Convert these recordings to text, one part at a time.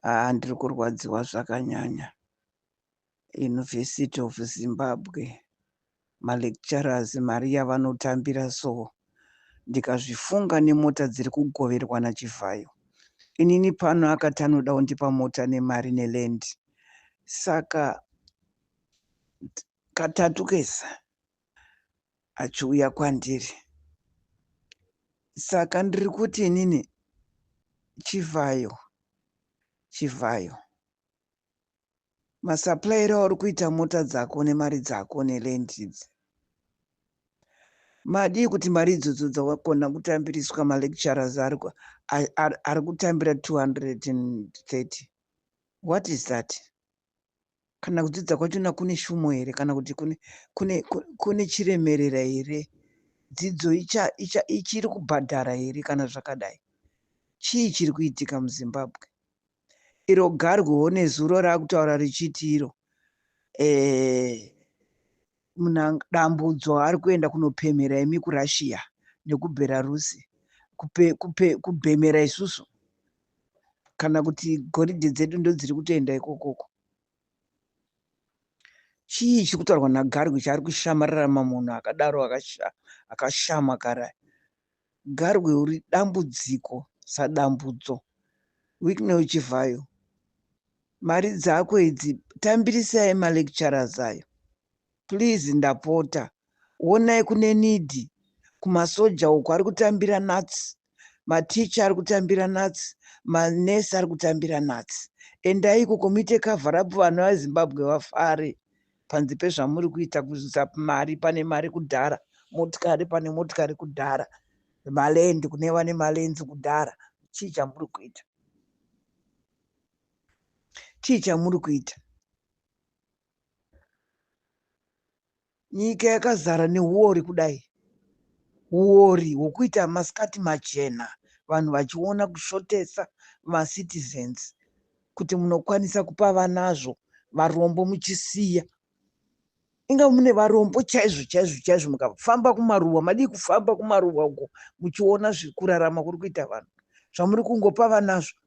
haa ndiri kurwadziwa zvakanyanya university of zimbabwe malecturers mari yavanotambira so ndikazvifunga nemota dziri kugoverwa nachivhayo inini pano akati anoda kundipa mota nemari neland saka Katatu kese achiuya kwandiri. Saka ndiri kuti inini chivhayo chivhayo masupplier auri kuita mota dzako nemari dzako neland idzi madii kuti mari idzodzo dzawakona kutambiriswa malecturers ari kutambira 230 what is that kana kudzidza kwachona kune shumo here kana kuti kune, kune, kune chiremerera here dzidzo icha, icha, ichiri kubhadhara here kana zvakadai chii chiri kuitika muzimbabwe iro garwewo nezuro raakutaura richiti iro eh, muna dambudzo ari kuenda kunopemhera imi kurussia nekubelarusi kupe, kupe, kubhemera isusu kana kuti goridhe dzedu ndodziri kutoenda ikokoko chii chiri kutaurwa nagarwe chaari kushamarira mamunhu akadaro akashama kara Garwe uri dambudziko sadambudzo. Wicknell Chivhayo mari dzako idzi tambirisai ma lecturers ayo please ndapota wonai kune need kumasoja uko ari kutambira nuts mateacher ari kutambira nuts manurse ari kutambira nuts endai ikoko muite cover up vana vezimbabwe vafare panzi pezvamuri kuita kuisa mari pane mari kudhara motikari pane motikari kudhara malendi kune vane malenzi kudhara chii chamuri kuita chii chamuri kuita nyika yakazara neuori kudai uori hwokuita masikati machena vanhu vachiona kushotesa macitizens kuti munokwanisa kupa vanazvo varombo muchisiya inga mune varombo chaizvo chaizvo chaizvo mukafamba kumaruwa madii kufamba kumaruwa uko muchiona zvekurarama kuri kuita vanhu zvamuri kungopa vanazvo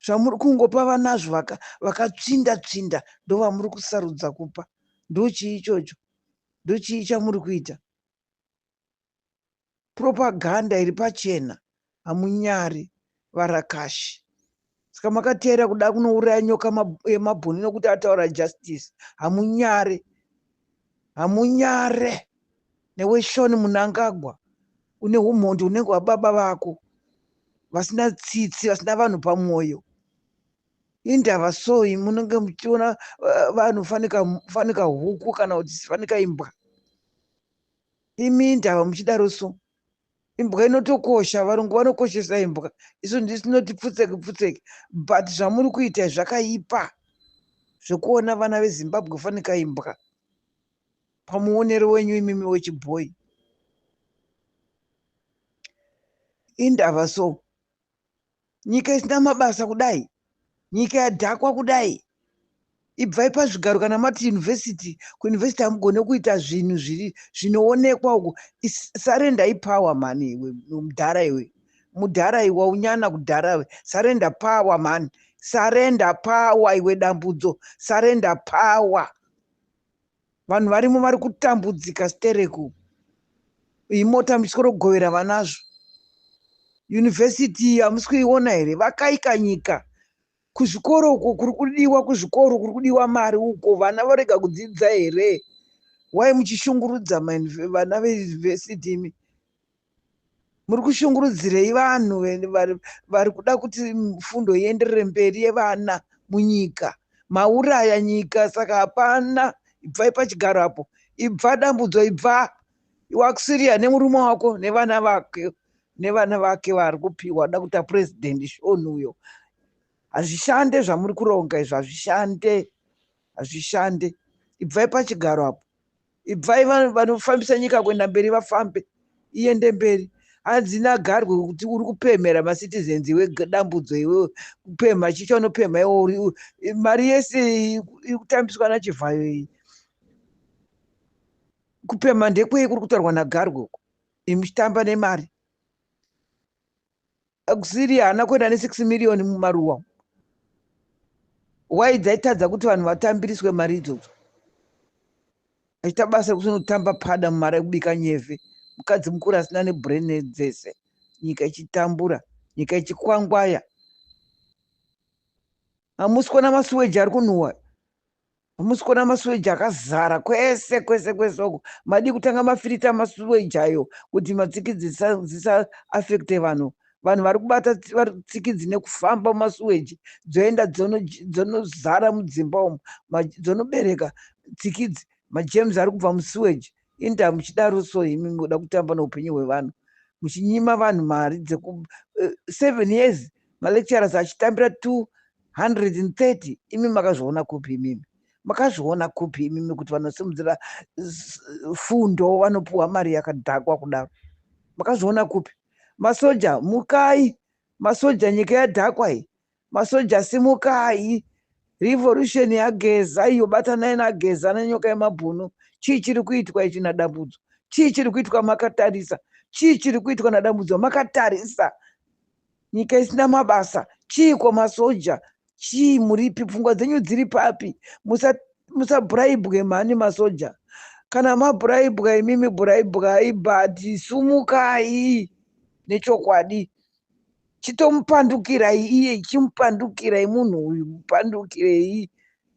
zvamuri kungopa vanazvo vakatsvinda vaka tsvinda ndovamuri kusarudza kupa ndochii ichocho ndochii chamuri kuita propaganda iri pachena hamunyari varakashi saka makateera kuda kunouraya nyoka yemabhuni nokuti ataura justice hamunyare hamunyare newe shoni munangagwa une umhondi unenge hwababa vako vasina tsitsi vasina vanhu pamwoyo indava soi munenge muchiona eh, vanhu fanika huku kana kuti fanika imbwa Imi indava muchidaro so. Imbwa inotokosha, varungu vanokoshesa imbwa. Isu ndisi tinoti pfutseki pfutseki but zvamuri kuita zvakaipa zvekuona vana veZimbabwe fanika imbwa pamuonero wenyu imimi wechibhoyi. Indava so. nyika isina mabasa kudai nyika yadhakwa kudai ibvai pazvigaro kana mati university kuuniversity hamugone kuita zvinhu zviri zvinoonekwa uku surrender ipower mhani iwe mudhara iwe mudhara iwe waunyana kudhara we surrender power mhani surrender power iwe dambudzo surrender power Vanhu varimo vari kutambudzika stereko iyi mota muchikorogovera vanazvo yunivhesiti hamusi kuiona here vakaika nyika kuzvikoro uko kuri kudiwa kuzvikoro kuri kudiwa mari uko vana vorega kudzidza here wai muchishungurudza vana veyunivhesiti imi muri kushungurudzirei vanhu vari kuda kuti fundo ienderere mberi yevana munyika mauraya nyika saka hapana ibvai pachigaro apo ibva dambudzo ibva wakusiria nemurume wako nevana vake nevana vake vari kupiwa da kuita president shoni uyo hazvishande zvamuri kuronga izvo hazvishande hazvishande ibvai pachigaro apo ibvai vanhu vanofambisa nyika kuenda mberi vafambe iende mberi hanzi nagarwe kuti uri kupemhera macitizens iwe dambudzo iwe kupemha chii chaunopemha iwe uri u- i- mari yese iyi iri kutambiswa nachivhayo iyi kupemha ndekwei kuri kutaurwa nagarwe uko imuchitamba nemari akusiri haana kuenda ne 6 million mumaruwa why dzaitadza kuti vanhu vatambiriswe mari idzodzo achiita basa rekuti unotamba pada mumari ekubika nyeve mukadzi mukuru asina nebrain dzese nyika ichitambura nyika ichikwangwaya hamusi kuona masuweji ari kunhuwa Hamusi kuona masuweji akazara kwese kwese kwese uko. Madii kutanga mafirita masuweji ayo kuti matsikidzi dzisa, dzisa affecte vanhu. Vanhu vari kubata tsikidzi nekufamba masuweji dzoenda dzonozara mudzimba umu dzonobereka tsikidzi majems ari kubva musuweji inda muchidaro so imi muda kutamba neupenyu hwevanhu muchinyima vanhu mari dzeku eh, seven years malecturers achitambira two 130 imi makazviona kupi imimi makazviona kupi imimi kuti vanosimudzira fundo vanopiwa mari yakadhakwa kudaro makazviona kupi masoja mukai masoja nyika yadhakwa iyi masoja simukai revolution yageza iyo batanai nageza nenyoka yemabhunu chii chiri kuitwa ichi nadambudzo chii chiri kuitwa makatarisa chii chiri kuitwa nadambudzo makatarisa nyika isina mabasa chiiko masoja chii muripi pfungwa dzenyu dziri papi musabhuraibwe musa mhani masoja kana mabhuraibwa imimi bhuraibwai but sumukai nechokwadi chitomupandukirai iye chimupandukirai munhu uyu mupandukirei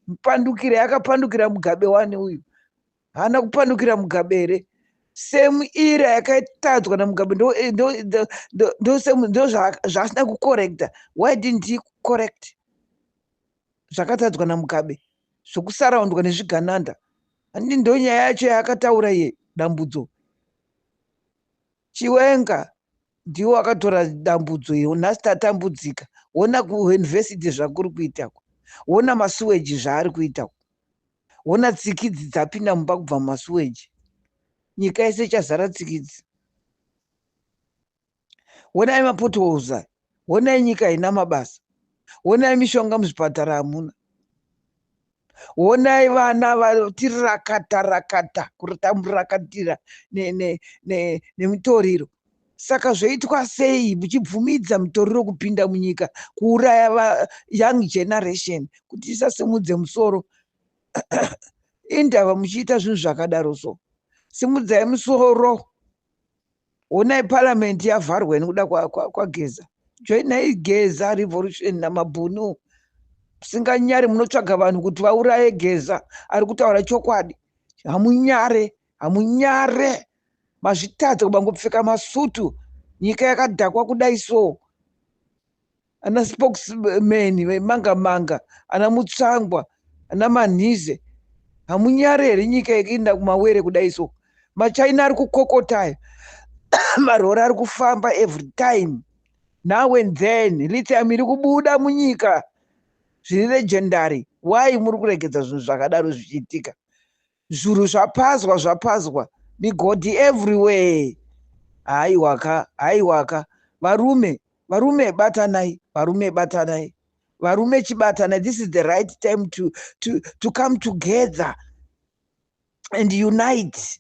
mupandukirei akapandukira mugabe wani uyu haana kupandukira mugabe here semu ira yakatadzwa namugabe ndozvaasina kucorrecta why didn't he correct zvakatadzwa namugabe zvokusaraundwa nezvigananda handi ndonyaya yacho yaakataura iye dambudzo chiwenga ndiwo akatora dambudzo iyo nhasi tatambudzika wona kuuniversity zvakuri kuita ku wona masuweji zvaari kuita ku Hona tsikidzi dzapinda mumba kubva mumasuweji. Nyika yese ichazara tsikidzi. Honai mapotholes aya. Honai nyika haina mabasa. Honai mishonga muzvipatara hamuna. Honai vana vatirakata rakata kutamurakatira nemutoriro. Ne, ne, ne, Saka zvoitwa sei muchibvumidza mutoriro kupinda munyika kuuraya va young generation kuti isasimudze musoro indava muchiita zvinhu zvakadaro so simudzai musoro honai paramend yavharwa nekuda kwageza kwa, kwa joinai geza revolution namabhunu musinganyari munotsvaga vanhu kuti vauraye geza ari kutaura chokwadi hamunyare hamunyare Mazvitadza kubangopfeka masutu nyika yakadhakwa kudai so. Ana spokesman vemanga manga, ana mutsvangwa, ana manhize. Hamunyare here nyika yekuinda kumawere kudai so. Machina ari kukokota aya. Marori ari kufamba every time. Now and then lithium iri kubuda munyika zviri legendary. Why muri kuregedza zvinhu zvakadaro zvichiitika? Zviuru zvapazwa zvapazwa migodhi everywhere haiwaka haiwaka varume varume batanai varume batanai varume chibatanai this is the right time to, to, to come together and unite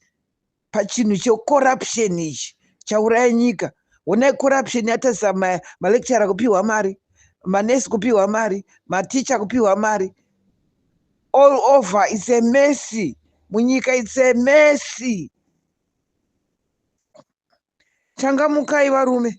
pachinhu checorruption ichi chauraya nyika honai corruption yatarisa malecturer kupiwa mari manesi kupiwa mari maticha kupiwa mari all over its a messy munyika its a messy changamukai varume